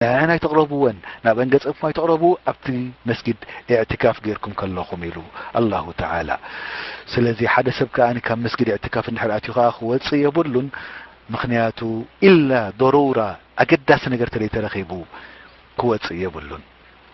ንዓና ኣይተቕረብወን ናብ ኣንገጸኩም ኣይተቕረቡ ኣብቲ መስጊድ ኢዕትካፍ ጌርኩም ከለኹም ኢሉ ኣላሁ ተዓላ ስለዚ ሓደ ሰብ ከኣ ካብ መስጊድ ኢዕትካፍ እንድሕር ኣትዩ ከኣ ክወጽእ የብሉን ምኽንያቱ ኢላ ዶሩራ ኣገዳሲ ነገር ተደይ ተረኺቡ ክወጽእ የብሉን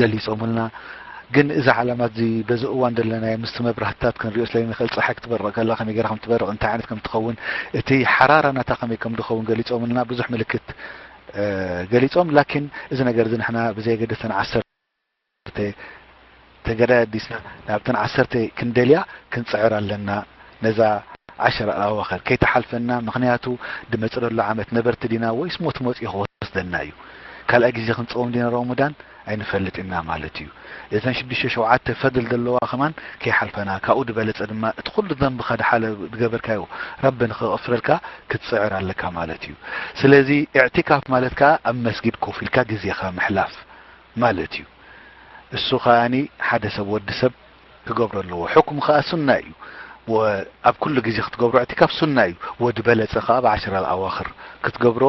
ገሊጾምልና ግን እዚ ዓላማት እዚ በዚ እዋን ዘለናዮ ምስቲ መብራህትታት ክንሪኦ ስለይንክእል ጸሓይ ክትበርቕ ከላ ከመይ ገራ ከም ትበርቕ እንታይ ዓይነት ከም ትኸውን እቲ ሓራራ ናታ ከመይ ከም ድኸውን ገሊጾምልና ብዙሕ ምልክት ገሊጾም ላኪን እዚ ነገር እዚ ንሕና ብዘየገደስ ተን ዓሰርተ ተገዳይ ኣዲስና ናብተን ዓሰርተ ክንደልያ ክንጽዕር ኣለና ነዛ ዓሸራ ኣዋኸር ከይትሓልፈና ምኽንያቱ ድመጽረሉ ዓመት ነበርቲ ዲና ወይስ ሞት መጽዩ ክወስደና እዩ ካልኣይ ግዜ ክንጸውም ዲና ሮሞዳን ኣይንፈልጥ እና ማለት እዩ እዘን ሽዱሽተ ሸውዓተ ፈድል ደለዋ ከማን ከይሓልፈና ካብኡ ድበለጸ ድማ እቲ ኩሉ ዘንብኻ ድሓለ ድገበርካዮ ረቢ ንክቕፍረልካ ክትጽዕር ኣለካ ማለት እዩ ስለዚ ኢዕቲካፍ ማለት ከኣ ኣብ መስጊድ ኮፍ ኢልካ ግዜኻ ምሕላፍ ማለት እዩ እሱ ከኣ ሓደ ሰብ ወዲ ሰብ ክገብሮ ኣለዎ ሕኩም ከኣ ሱና እዩ ኣብ ኩሉ ግዜ ክትገብሮ ዕቲካፍ ሱና እዩ ወዲ በለጸ ከኣ ብዓሽር ኣልኣዋክር ክትገብሮ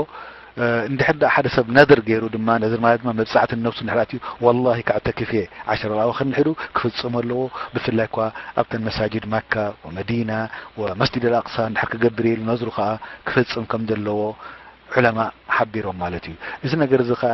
እንድሕር ደኣ ሓደ ሰብ ነድር ገይሩ ድማ ነድር ማለት ድማ መብጻዕቲ ንነብሱ እንድሕር ኣትዩ ወላሂ ከዕተክፍ እየ ዓሽር ኣልኣዋክር ንሒዱ ክፍጽሞ ኣለዎ ብፍላይ እኳ ኣብተን መሳጅድ መካ ወመዲና ወመስጅድ ኣልኣቅሳ እንድሕር ክገብር ኢሉ ነድሩ ከኣ ክፍጽም ከም ዘለዎ ዑለማ ሓቢሮም ማለት እዩ እዚ ነገር እዚ ከኣ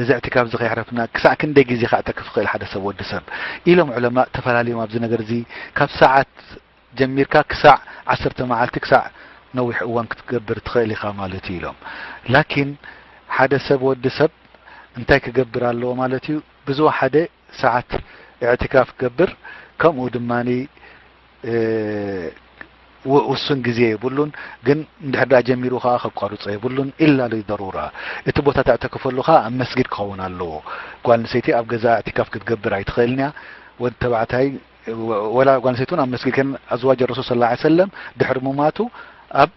እዘዕቲ ካብዚ ከየሕረፍና ክሳዕ ክንደይ ግዜ ክኣጥር ክፍክእል ሓደ ሰብ ወዲ ሰብ ኢሎም ዑለማእ ተፈላልዮም ኣብዚ ነገር እዚ ካብ ሰዓት ጀሚርካ ክሳዕ ዓሰርተ መዓልቲ ክሳዕ ነዊሕ እዋን ክትገብር ትኽእል ኢኻ ማለት እዩ ኢሎም ላኪን ሓደ ሰብ ወዲ ሰብ እንታይ ክገብር ኣለዎ ማለት እዩ ብዙ ሓደ ሰዓት ኢዕቲካፍ ክገብር ከምኡ ድማ ውሱን ግዜ የብሉን ግን እንድሕር ደኣ ጀሚሩ ከኣ ከቋርጾ የብሉን ኢላ ሊደሩራ እቲ ቦታ ተዕተክፈሉ ከኣ ኣብ መስጊድ ክኸውን ኣለዎ ጓል ኣንሰይቲ ኣብ ገዛ ኢዕቲካፍ ክትገብር ኣይትኽእልን እያ ወድ ተባዕታይ ወላ ጓል ኣንሰይቲ እውን ኣብ መስጊድ ከን ኣዝዋጅ ረሱል ስለ ላ ሰለም ድሕሪ ሙማቱ ኣብ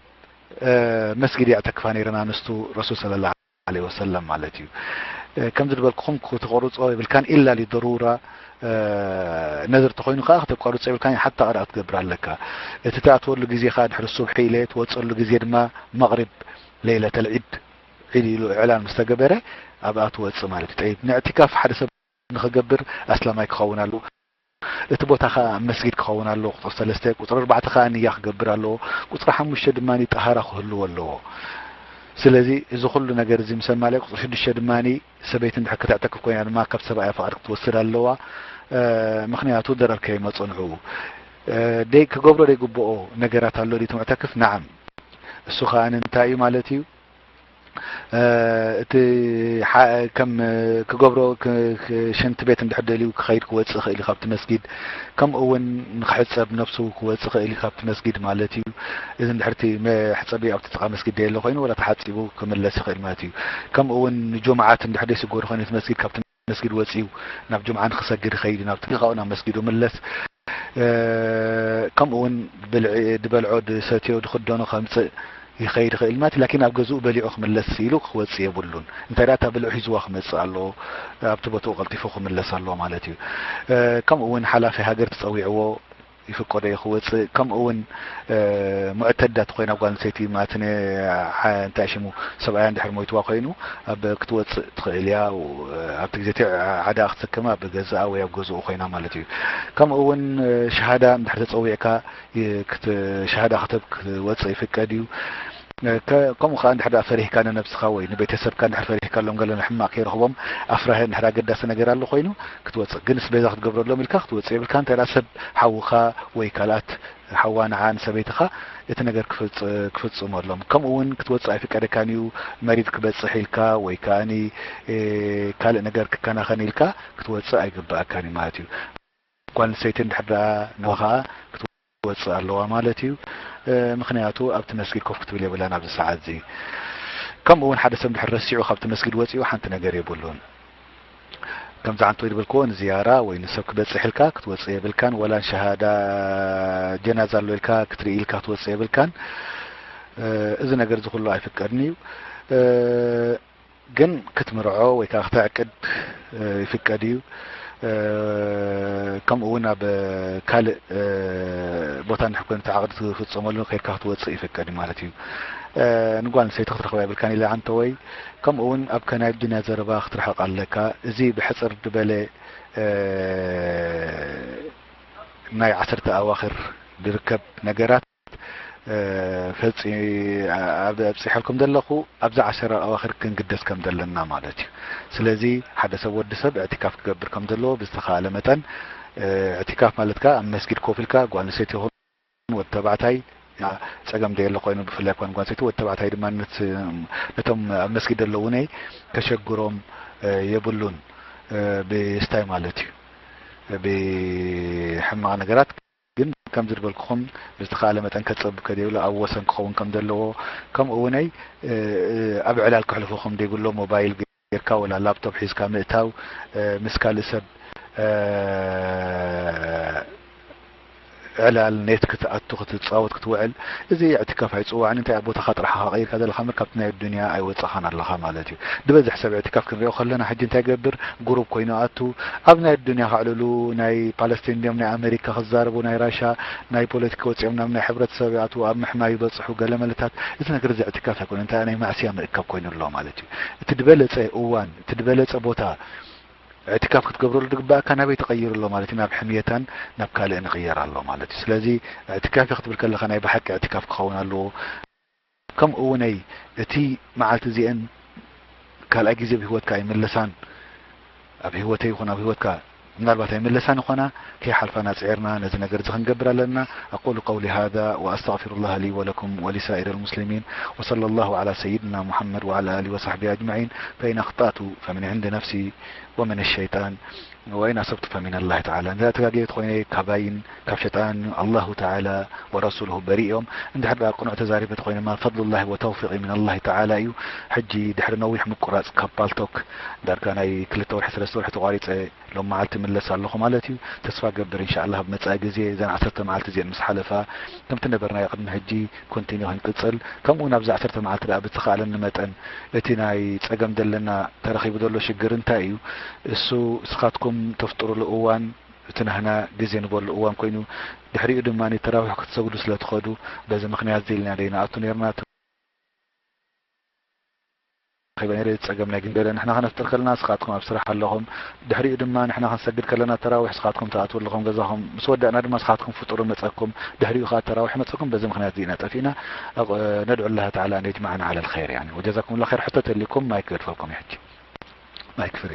መስጊድ የዕተክፋ ነይረን ኣንስቱ ረሱል ስለ ላ ዓለይሂ ወሰለም ማለት እዩ ከምዚ ዝበልክኹም ክተቆርጾ የብልካን ኢላ ሊደሩራ ነድር እንተኾይኑ ከኣ ክተቋርጾ የብልካን ሓታ ቀዳ ክትገብር ኣለካ እቲ ትኣትወሉ ግዜ ከኣ ድሕሪ ሱብሒ ኢለ ትወጸሉ ግዜ ድማ መቕሪብ ለይለተል ዒድ ዒድ ኢሉ እዕላን ምስ ተገበረ ኣብኣ ትወጽእ ማለት እዩ ጠይብ ንዕቲካፍ ሓደ ሰብ ንኽገብር ኣስላማይ ክኸውን ኣለዎ። እቲ ቦታ ከኣ መስጊድ ክኸውን ኣለዎ፣ ቁጽሪ ሰለስተ። ቁጽሪ ኣርባዕተ ከኣ ንያ ክገብር ኣለዎ። ቁጽሪ ሓሙሽተ ድማ ጠሃራ ክህልዎ ኣለዎ። ስለዚ እዚ ኩሉ ነገር እዚ ምስ ኣማልኣ ቁጽሪ ሽዱሽተ ድማ ሰበይቲ እንድሕር ከተዕተክፍ ኮይና ድማ ካብ ሰብኣያ ፍቓድ ክትወስድ ኣለዋ ምኽንያቱ ደረር ከይመጾ ንዕኡ። ደይ ክገብሮ ደይግብኦ ነገራት ኣሎ ድዩ እቲ ሙዕተክፍ? ነዓም። እሱ ከኣ እንታይ እዩ ማለት እዩ? እቲ ከም ክገብሮ ሽንቲ ቤት እንድሕር ደልዩ ክኸይድ ክወፅእ ይኽእል እዩ ካብቲ መስጊድ ከምኡ እውን ንክሕፀብ ነብሱ ክወፅእ ይኽእል እዩ ካብቲ መስጊድ ማለት እዩ እዚ እንድሕር እቲ መሕፀቢ ኣብቲ ጥቃ መስጊድ ደየለ ኮይኑ ወላ ተሓፂቡ ክምለስ ይኽእል ማለት እዩ ከምኡ እውን ንጁምዓት እንድሕር ደይስገሩ ኮይኑ እቲ መስጊድ ካብቲ መስጊድ ወጺኡ ናብ ጁምዓ ንክሰግድ ይኸይድ ናብ ጥሪቃኡ ናብ መስጊዱ ምለስ ከምኡ ውን ብልዒ ድበልዖ ድሰትዮ ድኽደኖ ከምጽእ ይኸይድ ይኽእል ማለት ላኪን ኣብ ገዝኡ በሊዑ ክምለስ ኢሉ ክወጽእ የብሉን እንታይ ደኣ እታ ብልዑ ሒዝዋ ክመጽእ ኣለዎ ኣብቲ ቦትኡ ቀልጢፉ ክምለስ ኣለዎ ማለት እዩ ከምኡ ውን ሓላፊ ሃገር ትጸዊዕዎ ይፍቀዶ እዩ ክወጽእ ከምኡ ውን ሙዕተዳ ተኮይና ጓል ኣንስተይቲ ማትነ እንታይ ሽሙ ሰብኣያ እንድሕር ሞይትዋ ኮይኑ ኣብ ክትወጽእ ትክእል እያ ኣብቲ ግዜ እቲ ዓዳኣ ክትስከም ኣብ ገዛኣ ወይ ኣብ ገዝኡ ኮይና ማለት እዩ ከምኡ ውን ሸሃዳ እንድሕር ተጸዊዕካ ሸሃዳ ክትህብ ክትወጽእ ይፍቀድ እዩ ከምኡ ከኣ እንድሕር ደኣ ፈሪህካ ንነብስኻ ወይ ንቤተሰብካ እንድሕር ፈሪህካሎም ገለ ሕማቅ ከይረኽቦም ኣፍራሂ እንድሕር ኣገዳሲ ነገር ኣሎ ኮይኑ ክትወጽእ ግንስ ቤዛ ክትገብረሎም ኢልካ ክትወጽእ የብልካን እንተ ሰብ ሓውኻ ወይ ካልኣት ሓዋ ንዓ ንሰበይትኻ እቲ ነገር ክፍጽመሎም ከምኡ ውን ክትወጽእ ኣይፍቀደካን እዩ መሪድ ክበጽሕ ኢልካ ወይ ከኣ ካልእ ነገር ክከናኸን ኢልካ ክትወጽእ ኣይግበኣካን እዩ ማለት እዩ ጓል ኣንስተይቲ እንድሕር ደኣ ንኻ ክትወጽእ ኣለዋ ማለት እዩ ምኽንያቱ ኣብቲ መስጊድ ኮፍ ክትብል የብላን ኣብዚ ሰዓት እዚ ከምኡ እውን ሓደ ሰብ ድሕር ረሲዑ ካብቲ መስጊድ ወጺኡ ሓንቲ ነገር የብሉን ከም ዝዓንቶ ዝበልክዎ ንዝያራ ወይ ንሰብ ክበጽሕ ኢልካ ክትወጽእ የብልካን ወላ ንሸሃዳ ጀናዛ ኣሎ ኢልካ ክትርኢ ኢልካ ክትወጽእ የብልካን እዚ ነገር እዚ ኩሉ ኣይፍቀድን እዩ ግን ክትምርዖ ወይ ከኣ ክተዕቅድ ይፍቀድ እዩ። ከምኡ ውን ኣብ ካልእ ቦታ እንድሕር ኮይኑ እቲ ዓቕዲ ትፍጸመሉ ከይድካ ክትወጽእ ይፍቀድ እዩ ማለት እዩ። ንጓል ኣንስተይቲ ክትረኽባ የብልካን ኢለ ኣንተወይ ከምኡ ውን ኣብ ከናይ ኣዱንያ ዘረባ ክትርሕቕ ኣለካ። እዚ ብሕጽር ድበለ ናይ ዓሰርተ ኣዋኽር ድርከብ ነገራት። ፈጺ ኣብ ኣብጺሐልኩም ዘለኹ ኣብዚ ዓሸራ ኣዋኽር ክንግደስ ከም ዘለና ማለት እዩ። ስለዚ ሓደ ሰብ ወዲ ሰብ እዕቲካፍ ክገብር ከም ዘለዎ ብዝተኻለ መጠን እዕቲካፍ ማለት ከኣ ኣብ መስጊድ ኮፍ ኢልካ ጓል ኣንስተይቲ ይኹን ወዲ ተባዕታይ ጸገም ዘየለ ኮይኑ ብፍላይ ኳን ጓል ኣንስተይቲ ወዲ ተባዕታይ ድማ ነቶም ኣብ መስጊድ ዘለዉ እውን ከሸግሮም የብሉን ብስታይ ማለት እዩ ብሕማቕ ነገራት ግን ከምዚ ዝበልኩኹም ብዝተኻእለ መጠን ከጸብብ ከደይብሎ ኣብ ወሰን ክኸውን ከም ዘለዎ ከምኡ ውነይ ኣብ ዕላል ክሕልፉ ከም ደይብሎም ሞባይል ገርካ ወላ ላፕቶፕ ሒዝካ ምእታው ምስ ካልእ ሰብ ዕላል ኔት ክትኣቱ ክትጻወት ክትውዕል እዚ ዕትካፍ ኣይጽዋዕን እንታይ ኣብ ቦታኻ ጥራሕኻ ቀይርካ ዘለኻ እምበር ካብቲ ናይ ኣዱንያ ኣይወጻኻን ኣለኻ ማለት እዩ። ድበዝሕ ሰብ ዕትካፍ ክንሪኦ ከለና ሕጂ እንታይ ይገብር ጉሩብ ኮይኑ ኣቱ ኣብ ናይ ኣዱንያ ከዕልሉ ናይ ፓለስቲን እንድዮም ናይ ኣመሪካ ክዛረቡ ናይ ራሻ ናይ ፖለቲኪ ወጺኦም ናብ ናይ ሕብረተሰብ ይኣትዉ ኣብ ምሕማይ ይበጽሑ ገለመለታት እቲ ነገር እዚ ዕትካፍ ኣይኮነን እንታይ ናይ ማዕሲያ ምእካብ ኮይኑ ኣሎ ማለት እዩ እቲ ድበለጸ እዋን እቲ ድበለጸ ቦታ ዕትካፍ ክትገብረሉ ድግበኣካ ናበይ ተቀይሩ ኣሎ ማለት እዩ ናብ ሕምየታን ናብ ካልእን ይቅየር ኣሎ ማለት እዩ ስለዚ ዕትካፍ ክትብል ከለካ ናይ ብሓቂ ዕትካፍ ክከውን ኣለዎ ከምኡ እውን እቲ መዓልቲ እዚኤን ካልኣይ ግዜ ኣብ ህይወትካ ኣይምለሳን፣ ኣብ ህይወተይ ይኹን ኣብ ህይወትካ ምናልባት ኣይምለሳን ይኾና፣ ከይሓልፋና ፅዒርና ነዚ ነገር እዚ ክንገብር ኣለና። ኣቁሉ ቀውሊ ሃዛ ወኣስተግፊሩላህ ሊ ወለኩም ወሊሳኢረል ሙስሊሚን ወሰለላሁ ዓላ ሰይድና ሙሐመድ ወዓላ ኣሊሂ ወሰሕቢሂ ኣጅመዒን ፈኢን ኣኽጣእቱ ፈምን ዕንዲ ነፍሲ ወምን ሸይጣን ወይን ኣሰብቱ ፈሚነላሂ ተዓላ እንድሕር ተጋጊየ ተኾይነ ካባይን ካብ ሸጣንን ኣላሁ ተዓላ ወረሱሉሁ በሪእ እዮም እንድሕር ድኣ ቅኑዕ ተዛሪበ ተኾይነ እማ ፈድሉላሂ ወተውፊቂ ሚነላሂ ተዓላ እዩ ሕጂ ድሕሪ ነዊሕ ምቁራጽ ካብ ፓልቶክ ዳርጋ ናይ ክልተ ወርሒ ሰለስተ ወርሒ ተቋሪጸ ሎም መዓልቲ እምለስ ኣለኹ ማለት እዩ ተስፋ እገብር እንሻኣላህ ኣብ መጻኢ ግዜ እዘን ዓሰርተ መዓልቲ እዚኤን ምስ ሓለፋ ከምቲ ነበርናዮ ቅድሚ ሕጂ ኮንቲንዩ ክንቅጽል ከምእውን ኣብዚ ዓሰርተ መዓልቲ ድኣ ብዝተካእለኒ መጠን እቲ ናይ ጸገም ዘለና ተረኪቡ ዘሎ ሽግር እንታይ እዩ እሱ እስካትኩም ተፍጥሩሉ እዋን እቲ ናህና ግዜ ንበሉ እዋን ኮይኑ ድሕሪኡ ድማ ተራዊሕ ክትሰግዱ ስለ ትከዱ በዚ ምክንያት እዚ ኢልና ደይ ንኣቱ ነርና ኣኼባ ነይረ ጸገም ናይ ግምገለ ንሕና ከነፍጥር ከለና እስኻትኩም ኣብ ስራሕ ኣለኹም ድሕሪኡ ድማ ንሕና ክንሰግድ ከለና ተራዊሕ እስኻትኩም ትኣትዉ ኣለኹም ገዛኹም ምስ ወዳእና ድማ እስኻትኩም ፍጡሩ መጸኩም ድሕሪኡ ከኣ ተራዊሕ መጸኩም በዚ ምኽንያት እዚ ኢና ጠፊእና ነድዑ ላህ ተዓላ ኣን የጅመዓና ዓላ ልኸይር ያኒ ወጀዛኩም ላ ኸይር ሕቶ ተልይኩም ማይክ ገድፈልኩም እየ ሕጂ ማይክ ፍሪ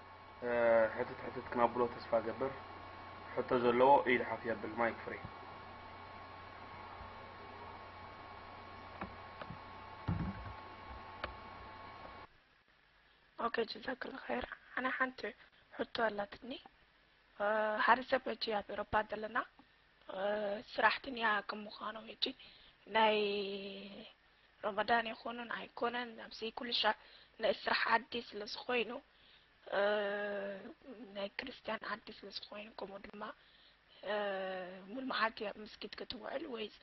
ሕትት ሕትት ክነብሎ ተስፋ ገብር ሕቶ ዘለዎ ኢድ ሓፍ የብል ማይክ ፍሪ ኦኬ ጀዛክላ ኸይር ኣነ ሓንቲ ሕቶ ኣላትኒ ሓደ ሰብ ሕጂ ኣብ ኤሮፓ ዘለና ስራሕትንያ ክምዃኑ ሕጂ ናይ ሮሞዳን ይኹንን ኣይኮነን ኣብዚ ኩልሻዕ ናይ ስራሕ ዓዲ ስለ ዝኾይኑ ናይ ክርስትያን ዓዲ ስለ ዝኾይኑ ከምኡ ድማ ሙሉ መዓልቲ ኣብ መስጊድ ክትውዕል ወይስ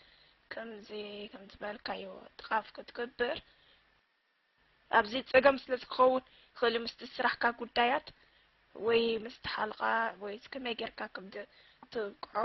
ከምዚ ከም ዝበልካዮ ጥቓፍ ክትገብር ኣብዚ ፀገም ስለ ዝኸውን ኸሊ ምስቲ ስራሕካ ጉዳያት ወይ ምስቲ ሓልቓ ወይስ ከመይ ጌርካ ከም ትብቅዖ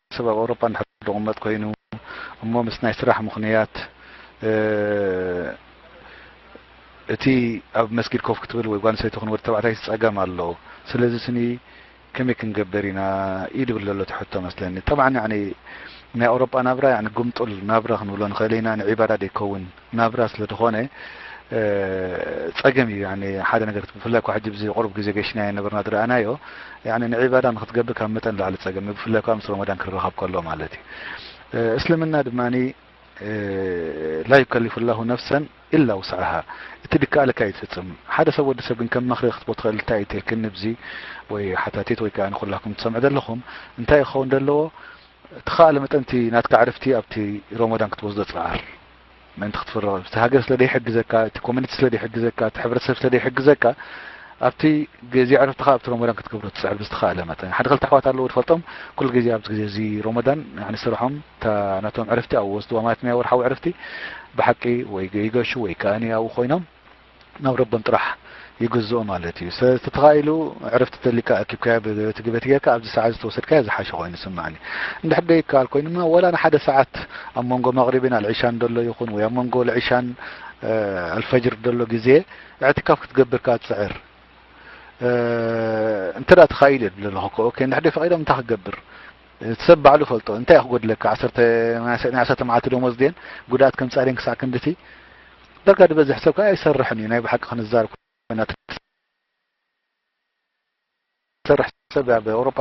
ሰብ ኣብ ኣውሮፓ እንድሕር ድቕመጥ ኮይኑ እሞ ምስ ናይ ስራሕ ምኽንያት እቲ ኣብ መስጊድ ኮፍ ክትብል ወይ ጓል ኣንስተይቲ ይኹን ወዲ ተባዕታይ ጸገም ኣሎ ስለዚ ስኒ ከመይ ክንገበር ኢና እዩ ድብል ዘሎ እቲ ሕቶ መስለኒ ጠብዓን ያዕኒ ናይ ኣውሮፓ ናብራ ያዕኒ ግምጡል ናብራ ክንብሎ ንኽእል ኢና ንዒባዳ ደይከውን ናብራ ስለ ድኾነ ጸገም እዩ ያኒ ሓደ ነገር ክት- ብፍላይ እኳ ሕጂ ብዚ ቁሩብ ግዜ ገሽናዮ ነበርና ዝረኣናዮ ያኒ ንዒባዳ ንክትገብር ካብ መጠን ንላዕሊ ጸገም እዩ ብፍላይ እኳ ምስ ሮመዳን ክረኻብ ከሎ ማለት እዩ እ፣ እስልምና ድማ እ፣ ላ ዩከሊፉ ላሁ ነፍሰን ኢላ ውስዓሃ እቲ ድከኣለካ እዩ ትፍጽም ሓደ ሰብ ወዲ ሰብ ግን ከም መኽሪ ክትቦ ትኽእል እንታይ እዩ ትልክኒ ብዚ ወይ ሓታቲት ወይ ከኣ ንኩላኩም ትሰምዑ ዘለኹም እንታይ እዩ ክኸውን ዘለዎ ትኸኣለ መጠን እቲ ናትካ ዕርፍቲ ኣብቲ ሮሞዳን ክትወስዶ ጽዓር ምእንቲ ክትፍርቕ እዩ። እቲ ሃገር ስለ ዘይሕግዘካ፣ እቲ ኮሚኒቲ ስለ ዘይሕግዘካ፣ እቲ ሕብረተሰብ ስለ ዘይሕግዘካ፣ ኣብቲ ግዜ ዕረፍትኻ ኣብቲ ሮሞዳን ክትገብሮ ትጽዕር ብዝተኻእለ መጠን። ሓደ ክልተ ኣሕዋት ኣለዉ ዝፈልጦም ኩሉ ግዜ ኣብዚ ግዜ እዚ ሮሞዳን ያኒ ስርሖም እታ ናቶም ዕረፍቲ ኣብኡ ወስድዋ ማለት ናይ ወርሓዊ ዕረፍቲ ብሓቂ ወይ ይገሹ ወይ ከኣኒ ኣብኡ ኮይኖም ናብ ረቦም ጥራሕ ይግዝኡ ማለት እዩ ስለቲ ተካኢሉ ዕርፍቲ ተሊካ ኣኪብካዮ በቲ በቲ ጌርካ ኣብዚ ሰዓት ዝተወሰድካዮ ዝሓሸ ኮይኑ ይስማዓኒ እንድሕር ደይካኣል ኮይኑ ድማ ወላ ንሓደ ሰዓት ኣብ መንጎ መቅሪብን ኣልዒሻን ደሎ ይኹን ወይ ኣብ መንጎ ልዒሻን ኣልፈጅር ደሎ ግዜ እዕትካፍ ክትገብር ከኣ ጽዕር እንተ ተካኢሉ እየ ድለ ኣለኹ ኦኬ እንድሕር ደይ ፈቂዶም እንታይ ክገብር እቲ ሰብ ባዕሉ ይፈልጦ እንታይ እዩ ክጎድለካ ዓሰርተ ናይ ናይ ዓሰርተ መዓልቲ ደሞዝ ድየን ጉድኣት ከምጽኣ ድየን ክሳዕ ክንድቲ ዳርጋ ዝበዝሕ ሰብ ከኣ ኣይሰርሕን እዩ ናይ ብሓቂ ክንዛር ኮይና ትሰርሕ ሰብ ኣብ ኤውሮጳ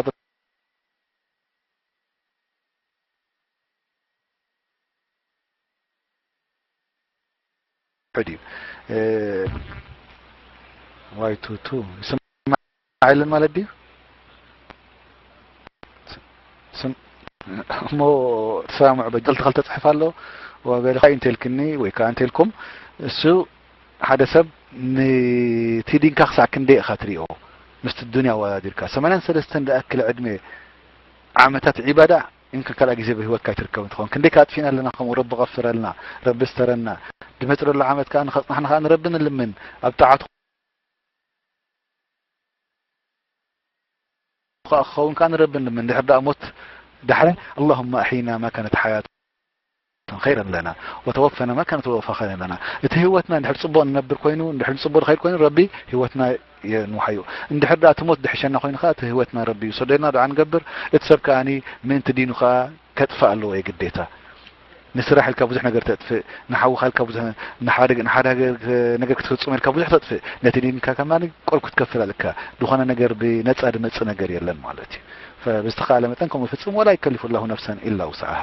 ድዩ ዋይ ቱቱ ይስማዓልን ማለት ድዩ እሞ ተሰማምዑ በጀልቲ ክልተ ጽሕፍ ኣሎ ወበልካ እንተልክኒ ወይ ከዓ እንተልኩም እሱ ሓደ ሰብ ንቲ ዲንካ ክሳዕ ክንደይ ኢኻ ትሪኦ ምስቲ ዱንያ ኣወዳዲርካ ሰማንያን ሰለስተን ዝኣክል ዕድሜ ዓመታት ዒባዳ እንካ ካልኣይ ግዜ ብህይወትካ ኣይትርከብን ትኸውን ክንደይ ከኣ ኣጥፊእና ኣለና ከምኡ ረቢ ቐፍረልና ረቢ ስተረና ድመጽለሉ ዓመት ከኣ ንኸጽናሕና ከኣ ንረቢ ንልምን ኣብ ጣዓቱ ከኣ ክኸውን ከኣ ንረቢ ንልምን እንድሕር ደኣ ሞት ዳሕሪ ኣላሁማ ኣሕይና ማ ካነት ሓያቱ ክንከይድ ኣለና ወተወፈነ ማ ካነት ወፈከነ ኣለና እቲ ሂወትና እንድሕር ጽቡቅ ንነብር ኮይኑ እንድሕር ንጽቡቅ ንከይድ ኮይኑ ረቢ ሂወትና የንውሓ እዩ እንድሕር ድኣ እቲ ሞት ድሕሸና ኮይኑ ከኣ እቲ ሂወትና ረቢ ይውሰዶ ኢልና ድዓ ንገብር እቲ ሰብ ከኣኒ ምእንቲ ዲኑ ከኣ ከጥፍእ ኣለዎ የግዴታ ንስራሕ ኢልካ ብዙሕ ነገር ተጥፍእ ንሓውካ ኢልካ ብዙሕ ንሓደ ንሓደ ነገር ክትፍጽም ኢልካ ብዙሕ ተጥፍእ ነቲ ዲንካ ከማ ቆል ክትከፍል ኣለካ ዝኾነ ነገር ብነጻ ድመጽእ ነገር የለን ማለት እዩ ብዝተኻለ መጠን ከምኡ ፍጽም ወላ ይከሊፉ ላሁ ነፍሰን ኢላ ውስዓሃ